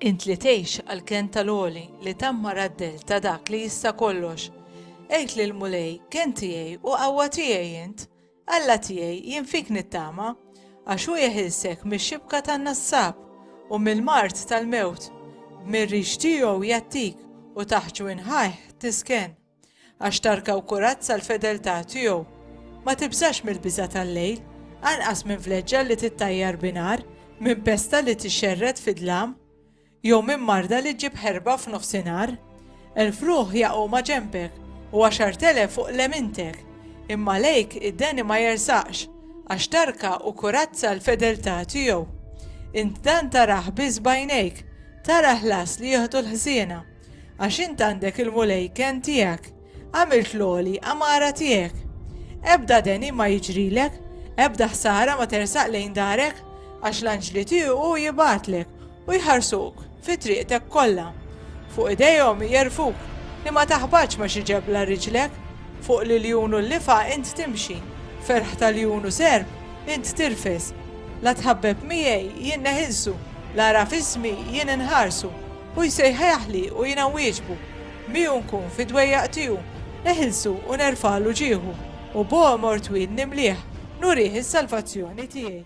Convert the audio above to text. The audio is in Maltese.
Int li tgħix għal kent tal-għoli li tamma raddel ta' dak li jista' kollox. Għid lil mulej kent tiegħi u qawwa tiegħi int, Alla tiegħi, jien fik nittama, għax hu jeħilsek mix-xibka tan-nassab u mill-mard tal-mewt, b'mir-rix tiegħu jgħattik u taħt ġwinħajh tisken. Għax tarka u kurazza l-fedeltà tiegħu. Ma tibżax mill-biża' tal-lejl, anqas minn vleġġa li tittajjar bi nar, minn pesta li tixxerred fid-dlam. jew minn marda li ġġib ħerba f'nofsinhar. Elf ruħ jaqgħu ma' ġenbek, u għaxart elef fuq lemintek, imma lejk id-deni ma jersaqx, għax tarka u kurazza l-fedeltà tiegħu. Int dan tarah biss b'għajnejk, tara ħlas li jieħdu l-ħżiena, għax int għandek il-Mulej kenn tiegħek. Għamilt l-għoli għamara tiegħek. Ebda deni ma jiġrilek, ebda ħsara ma tersaq lejn darek, għax l-anġli tiegħu hu jibgħatlek u jħarsuk fi triqtek kollha. Fuq idejhom jerfuk li ma taħbatx ma' xi ġebla riġlek, fuq l-iljun u l-lifa int timxi, ferħ ta' ljun u serp int tirfes. La tħabbeb miegħi jien neħilsu, la għaraf ismi jien inħarsu. Hu jsejħeħli u jiena nwieġbu, miegħu nkun fid-dwejjaq tiegħu, eħilsu u nerfagħlu ġieħu, u b'għomor twil nimlih, nurih is-salvazzjoni tiegħi.